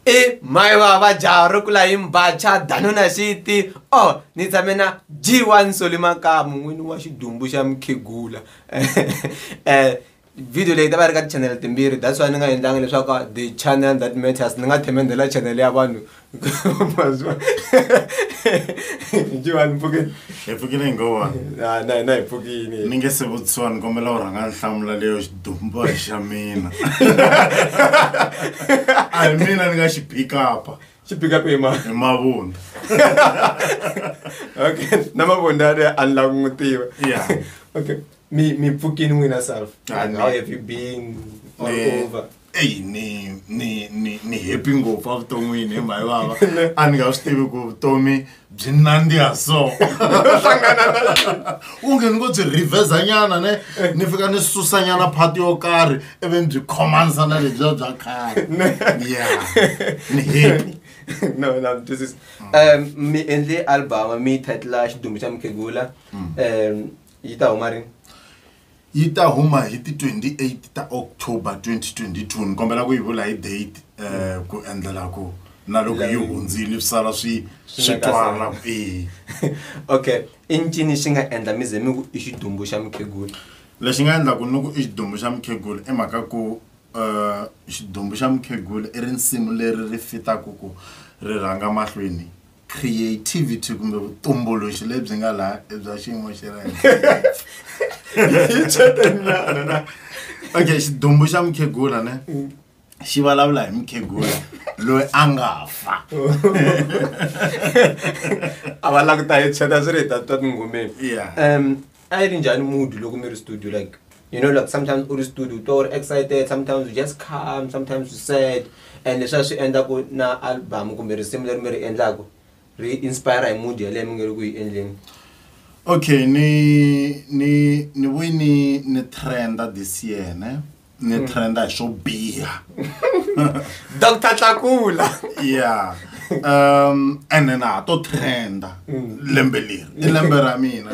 i mhai vava jaha ro kula hi mbacha danuna xiti o oh, ni tshame na g1 soli makamu n'wini wa xidumbu xa mukhegula um video leyi ta va ri ka tichanele timbirhi that's why ni nga endlanga leswaku the channel that matters ni nga themendela chanele ya vanhu mazwa jiwani mpfukini hi pfukile hi ngova na na hi pfukini ni nge se vutisiwa ni kombela u rhanga nhlamulo leyo dumba hi xa mina a hi mina ni nga xi pikapa xi pikapa hi ma hi mavunda okay na mavunda ari a ni lavi n'wi tiva yeah okay mi mi pfukini n'wina self ah, how have you been all eh, over eyi ni ni ni ni happy ngopfu evuton'wini hi mhayi vava a ni nga swi tivi ku vutomi byi nandziha so onge ni ngo byi revhezanyana ne ni fika ni susanyana phati yo karhi ivi ni byi khomanisa na lebyiya bya khale ya ni happy no na twisisa um mi endle album mi title xidumbu xa mukhegula um yi ta huma rini yi ta huma hi ti 28 ta October 2022 ni kombela ku yi vula hi date um ku endlela ku na loko yi hundzile swi sala swi swi twala e okay i ncini xi nga endla mi ze mi ku i xidumbu xa mukhegula lexi nga endlaku ni ku i xidumbu xa mukhegula i mhaka ku um xidumbu xa mukhegula i rinsimu leri ri fitaku ku ri rhanga mahlweni creativity kumbe vutumbuluxi lebyi nga laha i bya xiyimo xa le henhla okay xidumbu xa mukhegula ne xi vulavula hi mukhegula loyi a nga fa a va languta hi tshweta swi ri hi ta twa tingomeni Yeah. um a yi ri njhani mood loko mi ri studio like you know like sometimes u ri studio u twa u ri excited sometimes u just calm sometimes u sad and leswi a swi endla ku na album kumbe risimu leri mi ri endlaku ri inspire hi mood yaleyo mi nge ri ku yi endleni okay ni ni ni vuyi ni ni trenda this year ne ni hmm. trenda hi swo biha dr tlakula yeah um and then ha to trenda hmm. lembe leri i lembe ra mina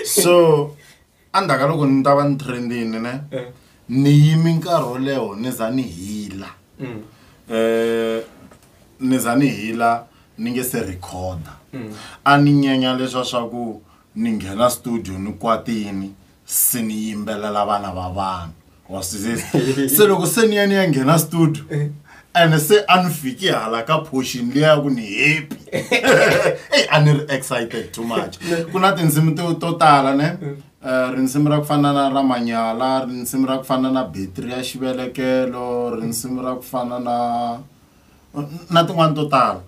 so endzhaku ka loko ni ta va ni trendini ne Eh. ni yimi nkarhi wo leho ni za ni hila Mm. eh ni za ni hila ni nge se recorda a ni nyenya leswa swa ku ni nghena studio ni kwatini se ni yimbelela vana va vanhu wa swi twisisa se loko se ni ya ni ya nghena studio ene se a ni fiki hala ka portion liya ya ku ni happy eyi a ni ri excited too much ku na tindzimi to to tala ne Eh, rindzimi ra ku fana na ra manyala rindzimi ra ku fana na betri ya xivelekelo rindzimi ra ku fana na na tin'wani to tala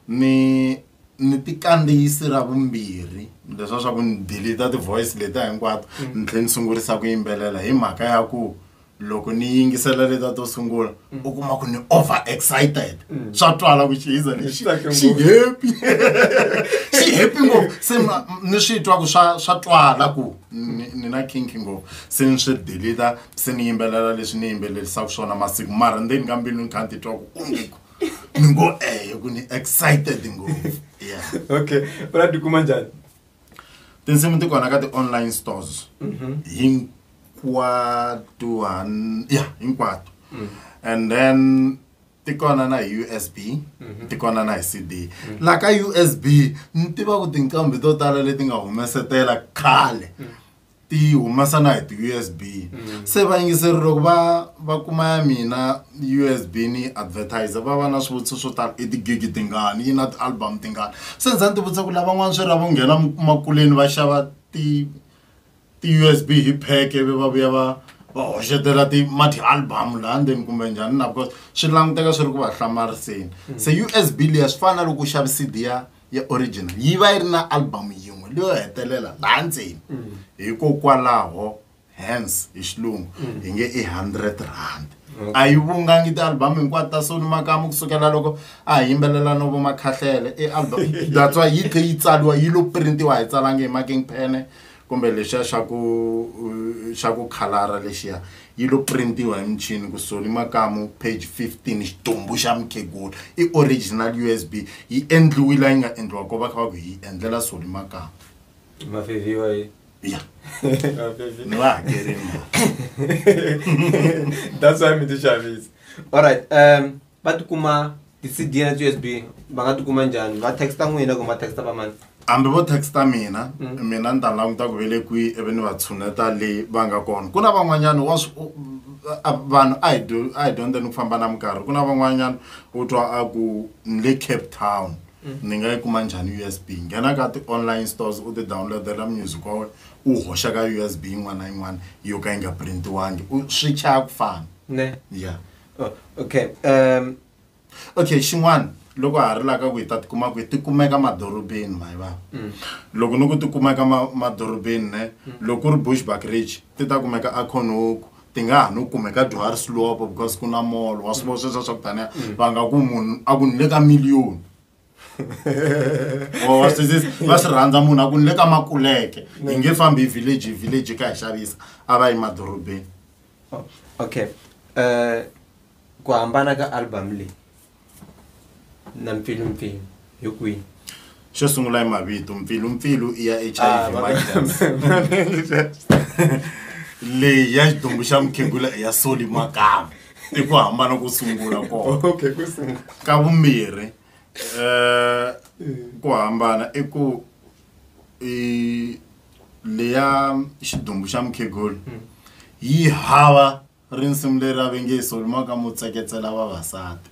ni ni ti kandziyisi ra vumbirhi leswa swa ku ni delete ti-voice letiya hinkwato mm. ni tlhela ni sungurisa ku yimbelela hi mhaka ya ku loko ni yingisela leta to sungula mm. u kuma ku ni over excited mm. swa twala ku chiza lexi xi happy xi happy ngopfu se ni swi twa ku swa swa twala ku ni na kinki ngopfu se ni swi deleta se ni yimbelela leswi ni yimbelelisaka swona masiku mara ndzeni ka mbilu ni kha ni titwa ku onge ni ngo ehe ku ni excited ngopfu yeah okay u la tikuma njhani tinsimu ti kona ka ti-online stores mhm. hinkwato ya hinkwato mm. and then ti kona na hi usb mhm. ti kona na hi cd mm. la ka usb ni tiva ku tinqambi to tala leti nga humesetela khale mm. ti humesa na hi ti-usb mm. se vayingiseri loko va va kuma ya mina usb ni advertiser va va na swivutiso swo tala i tigigi tingani yi na ti-album tingani se ndza ni tivutisa ku lavan'wana swi ra vo nghena makuleni va xava ti ti-usb hi pheke ve va vuya va va hoxetela ti ma ti-album laha ndzeni kumbe njhani na because swi languteka swi ri ku va hlamariseni mm. se usb liya swi fana na loko u xavi cd ya ya original yi va yi ri na album yin'we leyo hetelela laha ndzeni mm. hikokwalaho hence hi xilungu mm. hi nge i hundred rand a yi vungangi ti-album hinkwato ta soni makamu kusukela loko a hi yimbelela no vomakhahlele i album that's why yi tlhe yi tsaliwa yi lo printiwa hi tsalange hi making pene kumbe lexiya xa ku xa ku khalara lexiya yi lo print-iwa hi michini ku Soni Makamu page 15 xitumbu xa mukhegula i original USB yi endliwi la yi nga endliwa ko va kha va ku hi endlela Soni Makamu mafeviwa yi ya ni va hakerini that's why mi ti xavisa all right um va tikuma ti-cd na ti-usb va nga tikuma njhani va texta n'wina kumbe va texta va mani hambi vo texta mina mm. mina ni ta languta ku vele kwihi ivi ni va tshuneta leyi va nga kona ku na van'wanyana wa vanhu a hi a hi dyondze ni ku famba na minkarhi ku na van'wanyana u twa a ku ni le cape town mm. ni nga yi kuma njhani u s b nghena ka ti-online stores u ti downloadela music wa wena u hoxa ka u s b yin'wana na yin'wana yo ka yi nga printiwangi swi chaya ku fana ne ya yeah. oh, okay um okay xin'wana loko ha ri la ka ku hi ta tikuma ku hi tikumeka madorobeni mayi vava mm. loko ni ku tikumeka madorobeni ne mm. loko ku ri bush backridge ti ta kumeka aconoku ti nga ha no kumeka johari slopo because ku na molo wa swivo sweswo swa ku taniya mm. va nga ku munhu a ku ni le ka miliyoni oh, va swi rhandza munhu a ku ni le ka makuleke hi nge fambi hi village hi village ka hi xavisa a va yi madorobeni Oh, okay uh, ku hambana ka album leyi na mpfilumpfilu hi kwihi xo sungula i mavito mpfilumpfilu i ya h ah, i v leyi ya xidumbu xa mukhegula i ya soli makama i ku hambana ku sungula kona ka vumbirhi um ku hambana i ku eh, leya xidumbu xa mukhegulu yi hava rinsimu leri a ve nge solumaka mo tseketsela vavasati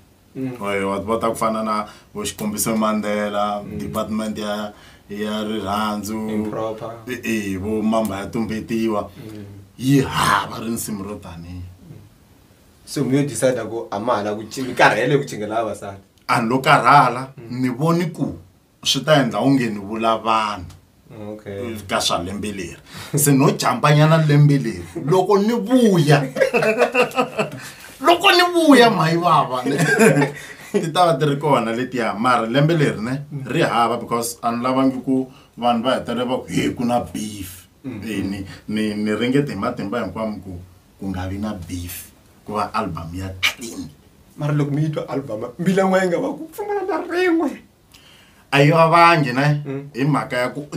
oye wa va ta ku fana na vo xikombiso mandela department ya ya rirhandzu Improper. e e, vo mamba ya tumbetiwa yi hava rinsimu ro tanihi se mi yo decide ku a ma hala ku ci- mi karhele ku chingela vavasati a ni lo karhala ni voni ku swi ta endla onge ni vula vanhu okay ka swa lembe leri se no jambanyana lembe leri loko ni vuya loko ni vuya mhayi vava ti ta va ti ri kona letiya mara lembe leri ne ri hava because a ni lavangi ku vanhu va hetelela va ku he ku na beef Eh, ni ni ni ringete hi matimba hinkwamo ku ku nga vi na beef ku va album ya clean mara loko mi yi twa album mbilan'wa yi nga va ku pfumala na rin'we a yi vavangi ne mm. hi mhaka ya ku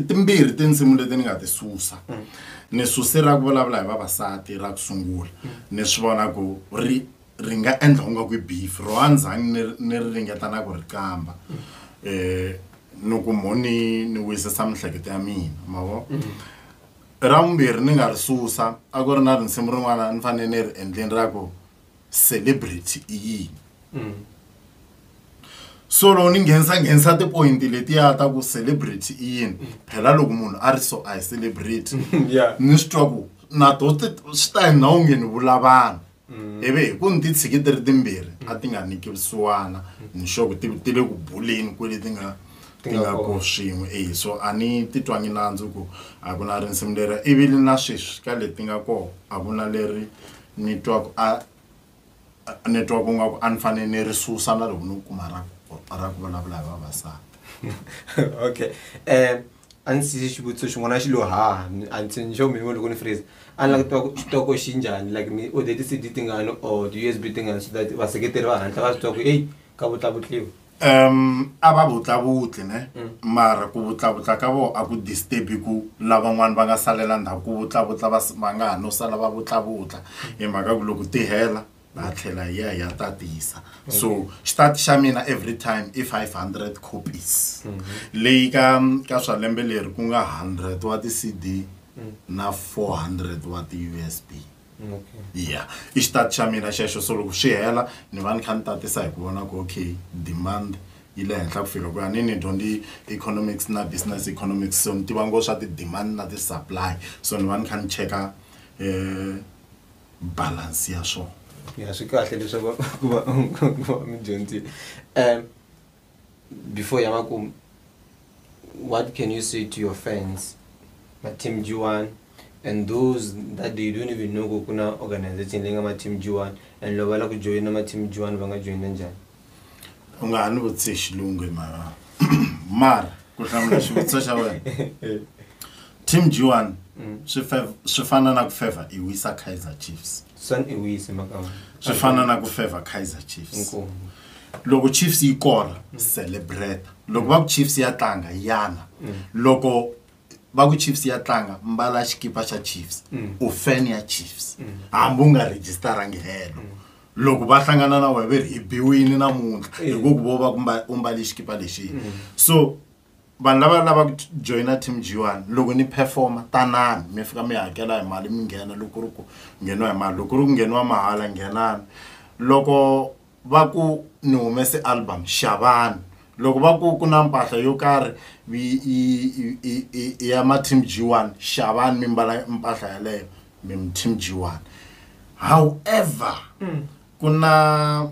timbirhi tinsimu leti ni nga ti susa mm. ni suse ra ku vulavula hi vavasati ra ku sungula mm. ni swi vona ku ri ri nga endla ku nga ku beef ro andzhani ni ni ri ringeta na ku ri kamba um ni ku mo ni ni wisisa mihleketo ya mina ma vo ra vumbirhi ni nga ri susa a ku ri na rinsimu rin'wana ni fanele ni ri endleni ra ku celebrity i yini mm. so loko ni nghenisa nghenisa tipoyinti letiya ta ku celebrity i yini mm. phela loko munhu a ri so a hi celebrity mm, ni swi twa ku na to swi ta hi na onge ni vula vanhu ivi hi ku ni ti tshiki ti ri timbirhi a ti nga nikisiwana ni xo ku ti ti le ku buleni kwele ti nga ti nga ko swin'we e so a ni titwangi nandzu ku a ku na rinsimu leri ivi ni na sweswi ka leti nga kona a ku na leri ni twa ku a ni twa ku nga ku a ni fanele ni ri susa na loko ni ku kuma ra ra ku vulavula hi vavasati okay um a ni sise xivutiso xin'wana xi lo haha antsini xo mi loko ni freeze a ni lava ku tiva ku xitoko xi njhani like mi order ti-cd tingani or ti-U_S_B tingani so that vaseketeri va hatla va swi tiva ku eyi ka vutlavutliwa um a va vutllavutli ne mara ku vutllavutla ka vona a ku disturbi ku lavan'wana va nga salela ndhawu ku vutllavutla va va nga ha no sala va vutllavutla hi mhaka ku loko ti hela va tlhela hi ya hi ya tatisa so xitati xa mina every time i five hundred copies leyi ka ka swa lembe leri ku nga hundred wa ti-cd na four hundred wa ti-U_S_B. okay ya i xitati xa mina xexo so loko swi hela ni va ni kha ni tatisa hi ku vona ku okay demand yi le henhla ku fika ku ya ni ni dyondze economics na business economics so ni tiva ngo swa ti-demand na ti-supply so ni va ni kha ni cheka um balance ya swona ya swi kahle leswaku va va va mi dyondzile um before yava ku what can you say to your fans mateam g1 and those that they don't even know ku ku na organization leyi nga mateam g1 and loko va lava ku joyina mateam g1 va nga joyina njhani u nga ha ni vutise xilungu hi mara mara ku hlamula xivutiso xa wena team g1 Mm. swi fe- swi fana na ku favor i wisa kaizer chiefs Sun i wise mhaka wena. Swi fana na ku favor Kaizer Chiefs. Inkomu. loko chiefs yi kora celebrate loko va ku chiefs ya tlanga yana loko va ku chiefs ya tlanga mbala xikipa xa chiefs u fan ya chiefs hambi u nga registarangi helo loko va hlangana na wena ve ri hi biwini namuntlha hikuva vo va ku mba- u mbale xikipa lexini so vanhu lava lavaka ku joyina team g one loko ni performa tanani mi fika mi hakela hi mali mi nghena loko ku ri ku ngheniwa hi mali loko ku ri ku ngheniwa mahala nghenani loko va ku ni humese album xavani loko va ku ku na mpahla yo karhi i ya ma team g one xavani mi mbala mpahla yaleyo mi team g one however mm. ku na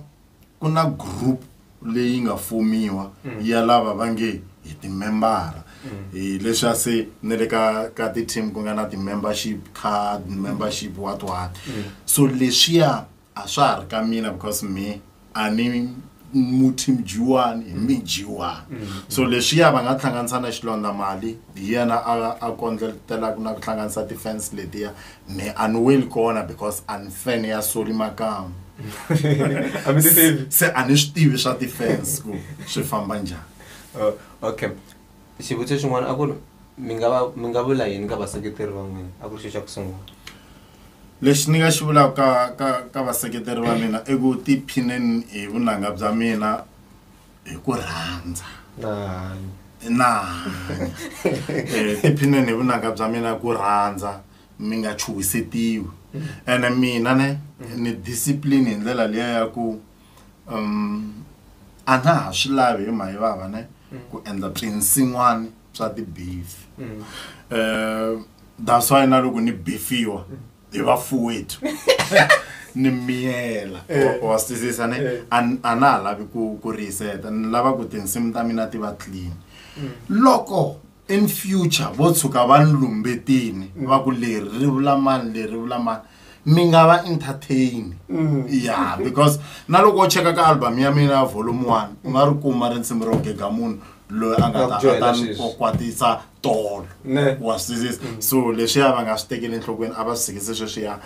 ku na group leyi nga fomiwa mm. ya lava va nge hi timembara mm. hi leswi a se ni le ka ka ti-team ku nga na ti-membership card membership what what mm. so leswiya a swa ha ri ka mina because me a ni muthi mjiwani hi mi jiwani so leswiya va nga hlanganisa na xilondza mali hi yena a a kondletelaka na ku hlanganisa ti-fans letiya ne a no weli kona because a ni fan ya soli makamu se a ni swi tivi swa ti-fans ku swi famba njhani oh, okay xivutiso xin'wana a ku ri mi nga va mi nga vula yini ka vaseketeri va n'wina a ku ri xo xa ku sungula lexi ni nga xi vulaka ka ka ka vaseketeri va mina i ku tiphineni hi vunanga bya mina hi ku rhandza na hanya na hanya Eh, tiphineni hi vunanga bya mina ku rhandza mi nga chuhisetiwi ene mina ne ni discipline hi ndlela liya ya ku um, a na ha swi lavi hi mhayi vava ne ku endla swinsin'wani swa tibeef um that's why na loko ni befiwa hi vafuwethu ni miyela eh. wa swisisa ne eh. a na ha lavi ku ku reset ni lava ku tinsimu ta mina ti va clean mm. loko in future vo tshuka va ni lumbetini mm. va ku leri ri vula mani leri vula mani mi nga va entertain mm. ya because na loko u cheka ka album ya mina ya volume one u nga ri kuma rinsimu ro gega munhu loyi a nga ta ta ni kwatisa tolo wa swisisa mm. so leswiya va nga swi tekeli enhlokweni a va swi sikise sweswiya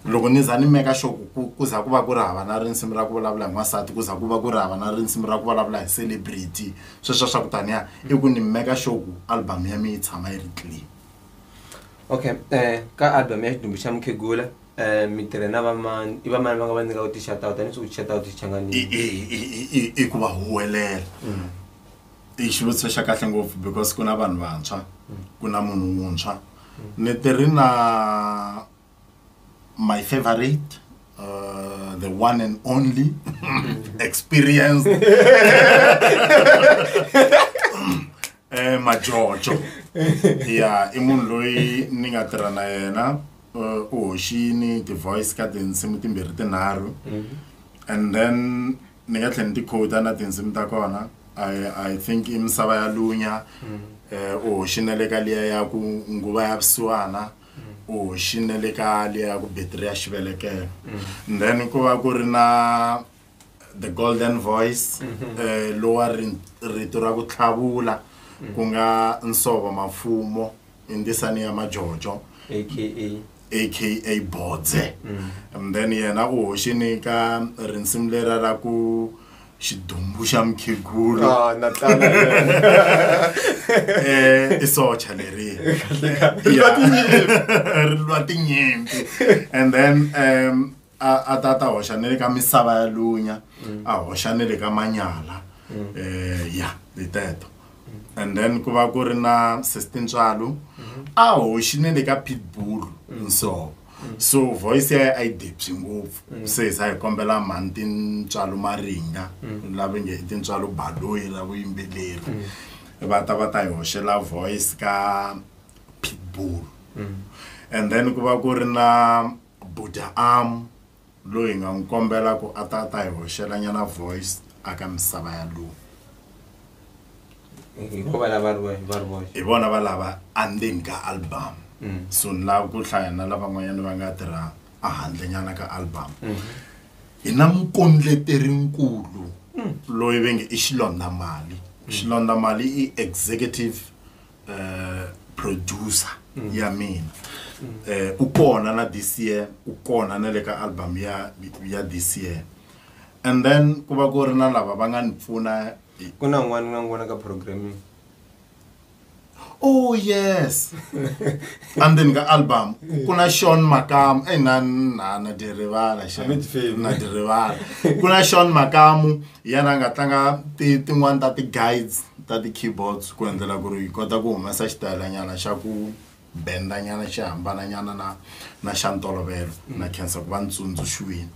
loko ni za ni meka xo ku ku za ku va ku ri hava na rinsimu ra ku vulavula hi n'wansati ku za ku va ku ri hava na rinsimu ra ku vulavula hi celebrity sweswo swa ku taniya i ku ni meka xo ku album ya mi yi tshama yi ri clean okay um ka album ya xidumbhi xa mukhegula Eh, mitirhe na vamani i vamani va nga va nyika ku ti-shoutout a ni swi ku ti-shoutout swi changanile i- i- i- i- i- i ku va huwelela i xivutiso xa kahle ngopfu because ku na vanhu vantshwa ku na munhu wuntshwa ni ti ri na my favorite uh, the one and only experience eh, majojo ya i munhu loyi ni nga tirha na yena uh, u hoxini ti-voice ka tinsimu timbirhi tinharhu mm-hmm. and then ni nga tlhela ni ti-coda na tinsimu ta kona i i think i misava ya lunya mm-hmm. eh, u hoxine le ka liya ya ku nguva ya vusiwana mm-hmm. u hoxine le ka liya ya ku betri ya xivelekelo then ku va ku ri na the golden voice mm -hmm. uh, lowa rito ra ku tlhavula mm -hmm. ku nga nsovo mafumo hi ndisani ya majojo aka aka bodze mm -hmm. and then yena u hoxini ka rinsimu lera ra ku xidumbu xa mukhegulu ah, eh, i socha leri ri lwa tinyimpi and then um, a a ta ta hoxa na le ka misava ya lunya a hoxa na le ka manyala um ya hi teto and then ku va ku ri na sister ntswalo a hoxi na le ka pitbull nsovo so voice ya a yi debyi ngopfu se hi sa hi kombela mhani tintswalo maringa lava nge i tintswalo baloyi ra vuyimbeleri va ta va ta hi hoxela voice ka pitbull and then ku va ku ri na Buda am loyi nga n'wi kombela ku a ta a ta hi hoxela nyana voice a ka misava ya lu hi vona va lava andzeni ka album mm. so ni lava ku hlaya na lavan'wanyana va nga tirha a handle nyana ka album mm. hi na mukondleterinkulu mm. loyi ve nge i xilondamali xilondamali i executive eh, producer mm. ya mina mm. eh, u kona na this year u kona na le ka album ya, ya this year and then ku va ku ri na lava va nga ni pfuna ku na n'wana nga n'wana ka programming oh yes andzeni ka album ku na sean makamu eyi eh, na na na dirivala na dirivala ku na sean makamu hi yena a nga tlanga ti tin'wani ta ti-guides ta ti-keyboards ku endlela ku ri hi kota ku humesa xitayelanyana xa ku benda nyana xi hambana nyana na na xa ntolovelo na khensa ku va ni tsundzuxiwile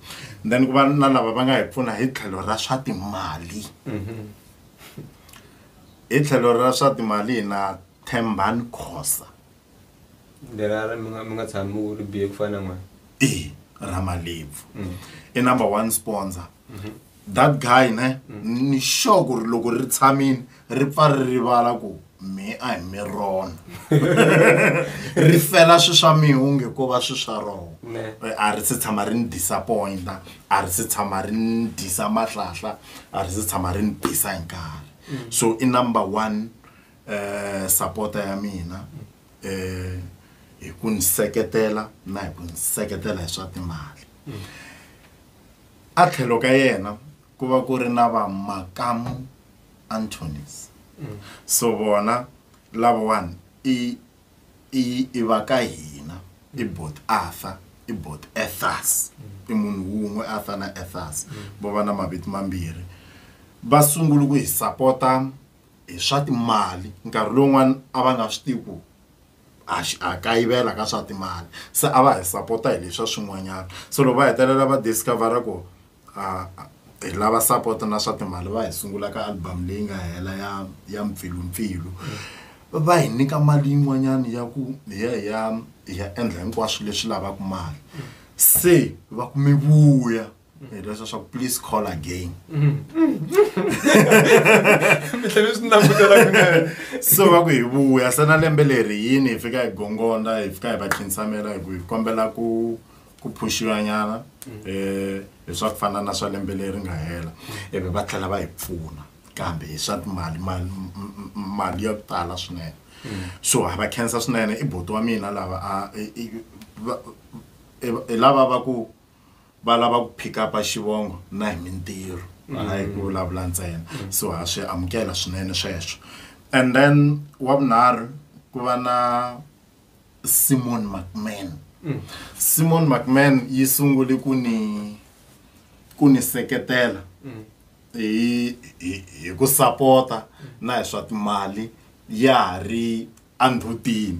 then ku va na lava va nga hi pfuna hi tlhelo ra swa timali hi tlhelo ra swa timali hi na Thembani Khosa. lerara mi nga mi nga tshami u ri bihe ku fana na n'wana e ra malebvu i number one sponsor that guy ne ni sure ku ri loko ri tshamini ri pfa ri rivala ku me a hi mi rona ri fela swi swa mihunge ko va swi swa roho Ne. Eh, a ri se tshama ri ni disappointa a ri se tshama ri ni disa mahlahla a ri se tshama ri ni bisa hi nkarhi so i number one eh, sapota ya mina eh, hi ku ni seketela na hi ku ni seketela hi swa timali a tlhelo ka yena ku va ku ri na vamakamu antonis so vona lavawani i i i va ka hina i bot arthur i bot ethas i munhu wun'we arthur na ethas vo va na mavito mambirhi va sungule ku hi sapota hi swa timali nkarhi lowun'wani a va nga swi tivi ku ha ha kayivela ka swa timali se a va hi sapota hi leswa swin'wanyana se loko va hetelela va discover-a ku hi lava sapota na swa timali va hi sungula ka album leyi nga hela ya ya mpfilumpfilu va hi nyika mali yin'wanyani ya ku hi ya hi ya hi ya endla hinkwaswo leswi lavaka mali se va ku mi vuya. hi leswa swa please call again so va ku hi vuya se na lembe leri yini hi fika hi gongonda hi fika hi va khinsamela hi ku hi kombela ku ku phuxiwa nyana um eh, hi swa ku fana na swa lembe leri nga hela ivi va tlhela va hi pfuna kambe hi swa timali mali mali ya ku tala swinene so ha va khensa swinene i boti wa mina lava a i lava va ku va lava ku pick up xivongo na hi mintirho hayi ku vulavula ntsena so ha swi amukela swinene sweswo and then wa vunharhu ku va na simon mcman simon mcman yi sungule ku ni ku ni seketela hi hi hi ku sapota na hi swa timali ya ha ri a nrhutini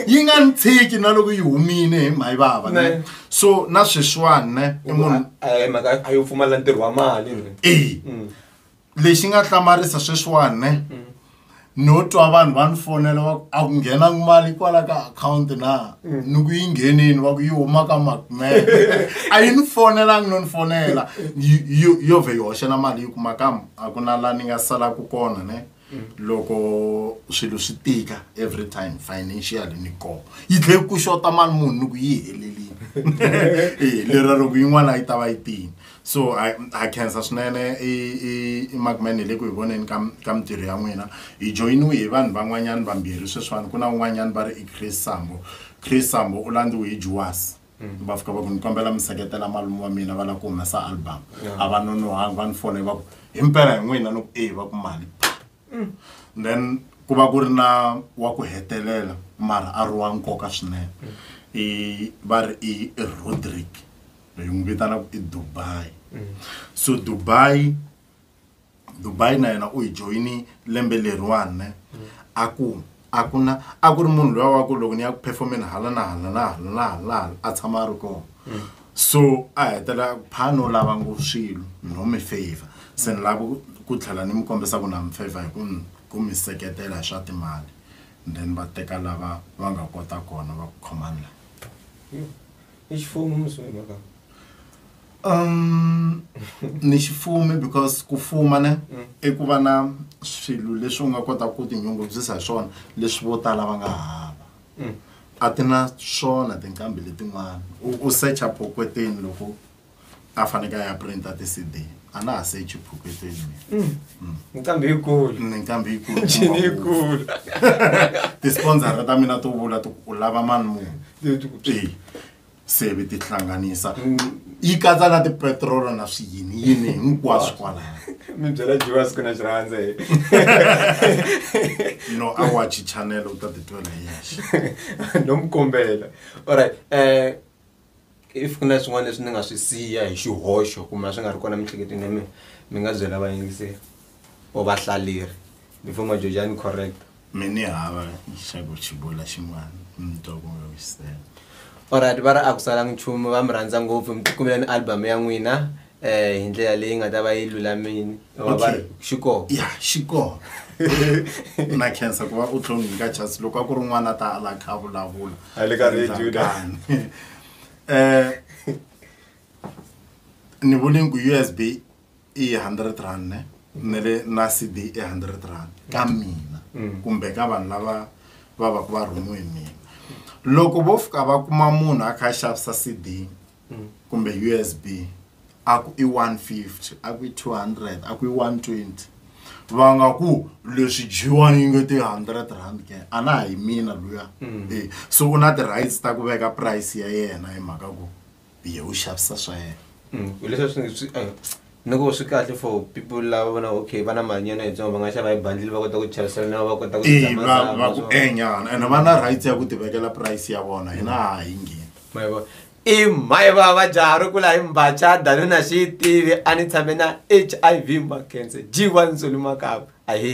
yi nga ni tshiki na loko yi humile hi mhayi vava ne so na sweswiwani ne i munhu mhaka a yo pfumala ntirho wa mali e lexi nga hlamarisa sweswiwani ne mm. no twa vanhu va ni fonela va a ku nghena mali kwala ka akhawunti na mm. ni ku yi nghenini va ku yi huma ka macman a yi ni fonelangi no ni fonela yo vhe yi hoxela mali yi kuma ka A ku na la ni nga salaku kona ne loko swilo swi tika every time financial ni koho yi tlhe ku xota mali munhu ni ku yi helelini e lera loko yin'wana yi ta va yi tini so ha khensa swinene i i i macman hi le ku hi voneni ka ka mintirho ya n'wina hi joyiniwe hi vanhu van'wanyana vambirhi sweswiwani ku na un'wanyana va ri i chris sambo chris sambo u landziwe hi juwasi Mm. va fika va ku ni kombela mi seketela malume wa mina va lava ku humesa album a va nonohangi va ni fona va ku hi mpela hi n'wina ni ku e va ku mali mm. then ku va ku ri na wa ku hetelela mara a ri wa nkoka swinene mm. i va ri i rodrick hi n'wi vitana ku i dubai so dubai dubai na yena u yi joyini lembe leriwani a ku a ku na a ku ri munhu loyi wa ku loko ni ya ku performeni hala na hala na hala na hala na hala a tshama a ri kona so a hetela phano lava ngo swilo no mi favor se ni lava ku- ku tlhela ni mi kombisa ku na mi favor hi ku ni- ku mi seketela hi swa timali then va teka lava va nga kota kona va ku khomani la i xifumu mi swi mhaka um ni xifumi because ku fuma ne mm. i ku va na swilo leswi u nga kota ku tinyungubyisa hi swona leswi vo tala va nga hava mm. a ti na swona tinqambi letin'wana u secha pokweteni loko a faneke a ya printa ti-cd a na ha sechi phuketeni mm. mm. nqambi yikulu mm, nqambi yikulu ncini yikulu ti-sponsora ta mina to vula ti u lava mani munhu e se vi ti hlanganisa yi katsa na tipetrolo na swiyini yini hinkwaswo kwalaya mi byela jiwa siku na xirhandza hi no a wachi channel u ta titwela hi yexe no mi kombela allright um eh, if ku na swin'wana leswi ni nga swi siya hi xihoxo kumbe a swi nga ri kona miehleketweni ya mina mi nga byela vayingiseri or vahlaleri before majoja ni correct mi ni hava xa ku xibula xin'wana mi twa ku nga wisela olright va ri a ku salanga nchumu va mi rhandza ngopfu mi tikumela ni album ya n'wina eh hi ndlela leyi nga ta va yi lulamini va va ri xi kona ya xi kona u na cancer ku va u tlhongi ka chance loko a ku ri n'wana a ta ala kha a vulavula A le ka radio Endla la. tani. Eh, ni vule ku usb i 100 rand ne ni le na cd i 100 rand ka mina kumbe ka vanhu lava va va ku va rhumiwe hi mina loko vo fika va kuma munhu a kha a xavisa cd mm. kumbe usb a ku i 150 a ku i 200 a ku i 120 va nga ku leswi dyiwani yi nge ti hundred rand ke a na hi mina luya mm. e so u na ti-rights ta ku veka price ya yena hi mhaka ku ye u xavisa swa yena mm. leswi swi eh, Loko swi kahle for people lava vona okay va na mali nyana yitsongo va nga xava hi bundle va kota ku chavisela na va kota ku Eh, tshama va va zama ku so. enyana and va na rights ya ku ti vekela price ya vona hina ha hi ngheni Ma yi vona? i mhayi vava jaha ri kula hi mbacha dani na xi yi tivi a ni tshame na hiv makense g1 ntsoni makava ahe